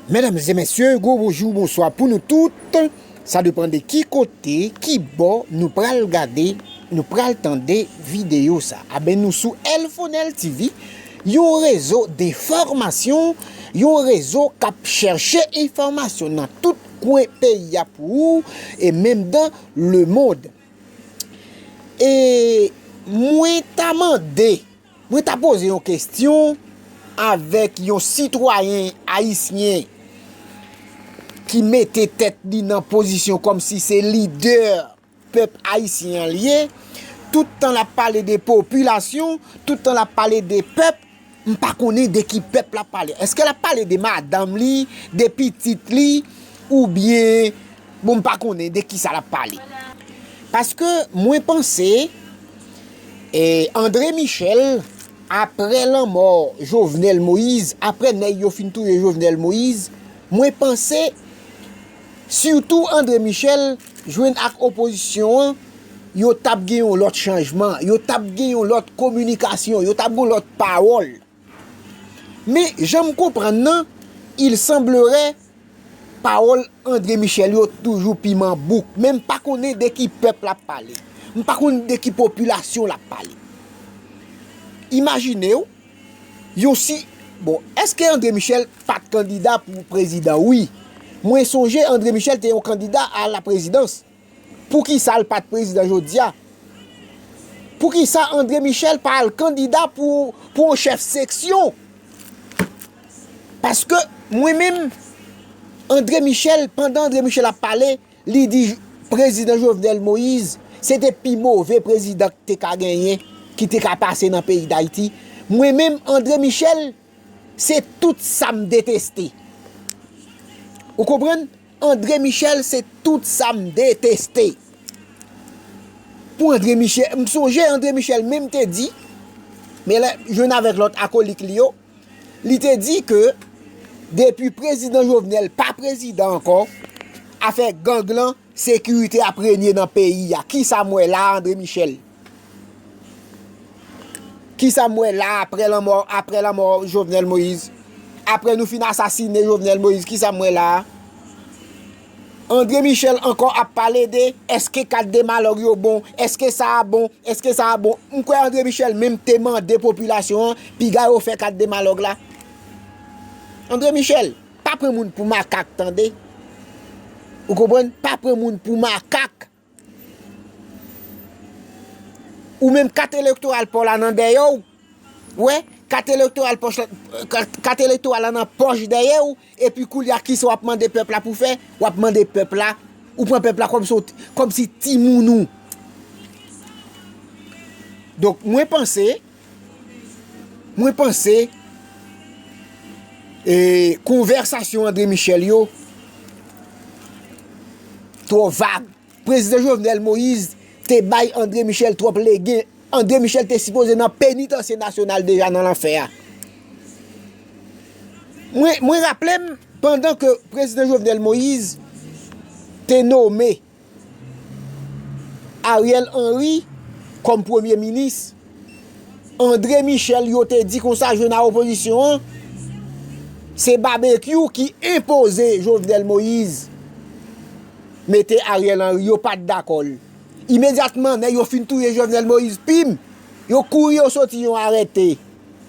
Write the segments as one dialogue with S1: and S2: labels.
S1: Medam e mesye gwo bonjou bonswa pou nou tout sa depan de ki kote ki bò nou pral gade nou pral tande video sa a ben nou sou elfonel TV yon rezo de fòmasyon yon rezo kap chèche enfòmasyon nan tout kwen peyi a pou ou e menm dan lemond e mwen ta mande. Mwen ta poze yon kestyon avek yon sitwayen ayisyen ki mete tet li nan pozisyon kom si se lidè pep ayisyen an li ye, tout tan lap pale de popilasyon, tout tan lap pale de pep, m pa konnen de ki pep lap pale. Eske lap pale de madanm li, de pitit li, ou byen... Bon m pa konnen de kisa lap pale. Paske mwen panse Andre Michel apre lanmò Jovenel Moïse, apre nèg yo fin touye Jovenel Moïse, mwen panse sitou Andre Michel jwenn ak opozisyon an, yo tap gen yon lòt chanjman, yo tap gen yon lòt kominikasyon, yo tap gen yon lòt pawòl. Men, jan m konprann nan, il semblerait pawòl André Michel yo toujou piman bouk. Men m pa konnen de ki pèp l ap pale. M pa konnen de ki popilasyon l ap pale. Imajine w, yon si, bon, èske André Michel pa t kandida pou prezidan? Wi. Mwen sonje André Michel te yon kandida a la prezidans. Poukisa l pat prezidan jodia? Poukisa Andre Michel pa al kandida pou yon chèf seksyon? Paske mwen menm Andre Michel pandan Andre Michel ap pale li di prezidan Jovenel Moïse se te pi move prezidan ki te ka genyen ki te ka pase nan peyi dayiti mwen menm Andre Michel Se tout sa m deteste. Ou konprann? Andre Michel se tout sa m deteste. Pou Andre Michel, m sonje Andre Michel menm te di, men lè jwenn avèk lòt akolik li yo, li te di ke depi prezidan Jovenel pa prezidan ankò, afè gang lan, sekirite ap renye nan peyi a. Kisa m wè la a Andre Michel? Kisam wè la aprè lanmò aprè lanmò jovenel moïse aprè nou fin asasine jovenel moïse kisam wè la andre michel ankò ap pale de eske kat de malòg yo bon eske sa a bon eske sa a bon m kwè andre michel menm te mande popilasyon an piga yo fè kat de malòg la andre michel pa pran moun pou makak tande ou konprann pa pran moun pou makak Ou menm kat elektoral paw la nan dèyèw, wè, kat elektoral pòch la, kat elektoral la nan pòch dèyèw, epi koulya kisa wap mande pèp la pou fè, wap mande pèp la, ou pran pèp la kòm si w t, kòm si timoun ou. Donk mwen panse. Mwen panse e konvèsasyon André Michel yo twò vag. Prezidan Jovenel Moïse te bay André Michel twòp legen. André Michel te sipoze nan penitansye nasyonal deja nan lanfè a. Mwen raple m, pandan ke prezidan Jovenel Moïse te nome. Ariel Henry kòm premye minis. Andre Michel yo te di konsa jwe nan opozisyon an, se babekyou ki enpoze Jovenel Moïse mete Ariel Henry yo pat dakò l. Imedyatman nèg yo fin touye Jovenel Moïse pim, yo kouri yo soti yon arete,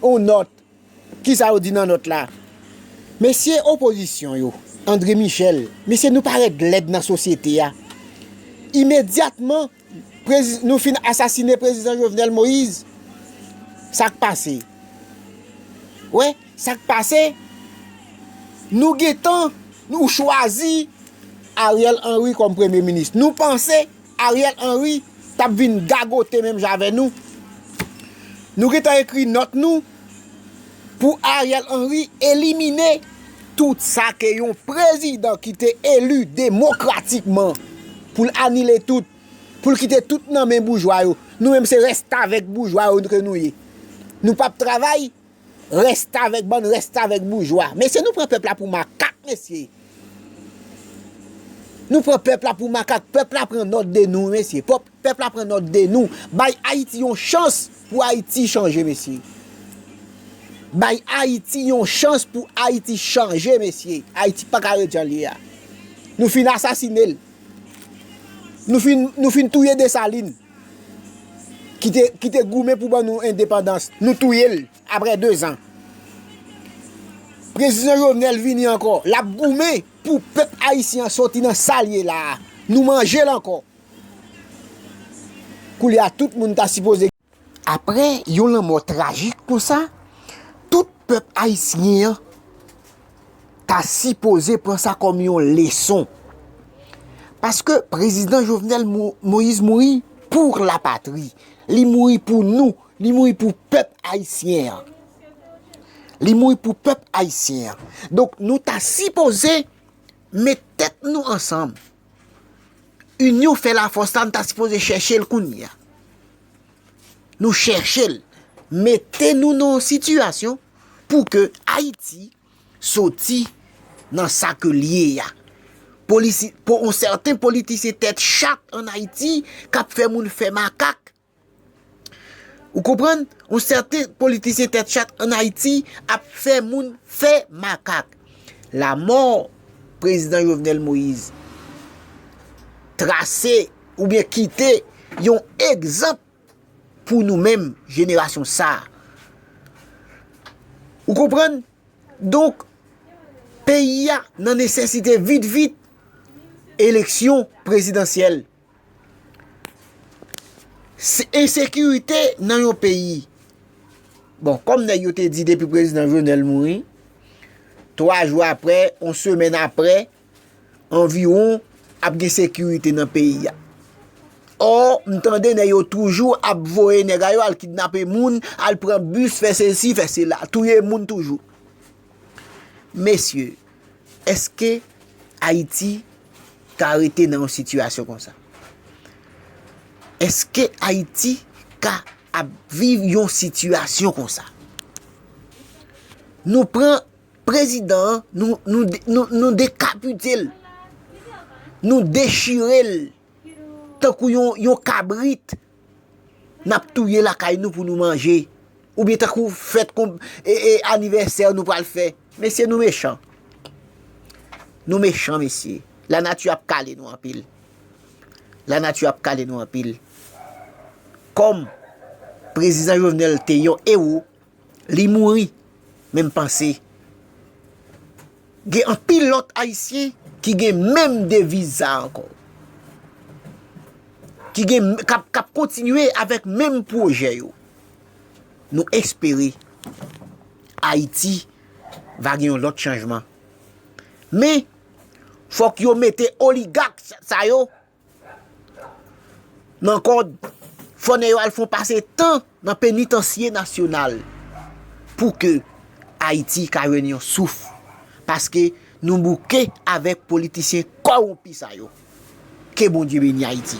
S1: yon nòt. Kisa yo di nan nòt la? Mesye opozisyon yo, André Michel, mesye nou parèt lèd nan sosyete a. Imedyatman nou fin asasine prezidan Jovenel Moïse, sa k pase? Wè, sa k pase? Nou gentan, nou chwazi Ariel Henry kòm premye minis. Nou panse. Ariel Henry tap vin gagote menm jan avè nou. Nou gentan ekri nòt nou pou Ariel Henry elimine tout sa ke yon prezidan ki te eli demokratikman pou l anile tout, pou l kite tout nan men boujwa yo. Nou menm se restavèk boujwa yo ke nou ye. Nou pap travay. Restavèk bann restavèk boujwa. Mesye nou pran pèp la pou makak mesye. Nou pran pèp la pou makak. Pèp la pran nòt de nou mesye. Pèp la pran nòt de nou. Bay Ayiti yon chans pou Ayiti chanje mesye. Bay Ayiti yon chans pou Ayiti chanje mesye. Ayiti pa ka ret jan li a. Nou fin asasine l. Nou fin touye Dessalines. ki te goumen pou ban nou endepandans, nou touye l apre 2 zan. Prezidan Jovenel vini ankò, l ap goumen pou pèp ayisyen an sòti nan sa l ye la a, nou manje l ankò. Koulye a tout moun ta sipoze. Apre yon lanmò trajik konsa, tout pèp ayisyen an. ta sipoze pran sa kòm yon leson. Paske prezidan Jovenel Moïse mouri pou la patri. Li mouri pou nou. Li mouri pou pèp ayisyen an. Li mouri pou pèp ayisyen an. Donk nou ta sipoze met tèt nou ansanm. Inyon fè la fòs la nou ta sipoze chèche l kounye a. Nou chèche l. Mete nou nan yon sitiyasyon. pou ke Ayiti soti nan sa ke l ye a. Pou yon sèten politisyen tèt chat an Ayiti k ap fè moun fè makak. Ou konprann? Yon sèten politisyen tèt chat an Ayiti ap fè moun fè makak. Lamò Prezidan Jovenel Moïse trase oubyen kite yon egzanp. pou nou menm jenerasyon sa. Ou konprann? Donk, peyi a nan nesesite vit vit eleksyon prezidansyèl. Ensekirite nan yon peyi. Bon, kòm nèg yo te di depi prezidan Jovenel mouri, 3 jou apre, yon semèn apre, anviwon ap gen sekirite nan peyi a. Or, m tande nèg yo toujou ap voye nèg a yo al kidnape moun, al pran bus, fè sesi, fè sela, touye moun toujou. Mesye, eske Ayiti ka rete nan yon sitiyasyon kon sa? Eske Ayiti ka ap viv yon sitiyasyon kon sa? Nou pran. Prezidan an nou dekapite l, nou dechire l tankou yon kabrit n ap touye lakay nou pou nou manje oubyen tankou fèt anivèsè nou pral fè. Mesye nou mechan, nou mechan mesye, la nati ap kale nou anpil, la nati ap kale nou anpil. Kòm Prezidan Jovenel te yon ewo. Li mouri menm panse. Gen anpil lòt ayisyen ki gen menm deviz sa ankò. Ki gen kap kontinye avèk menm pwojè yo. Nou espere ayiti va gen yon lòt chanjman. Men fòk yo mete oligak sa yo. Nan kòd, fò nèg yo al fon pase tan nan penitansye nasyonal pou ke Ayiti ka jwenn yon souf. Paske nou bouke avèk politisyen kòwonpi sa yo. Ke Bondye beni Ayiti.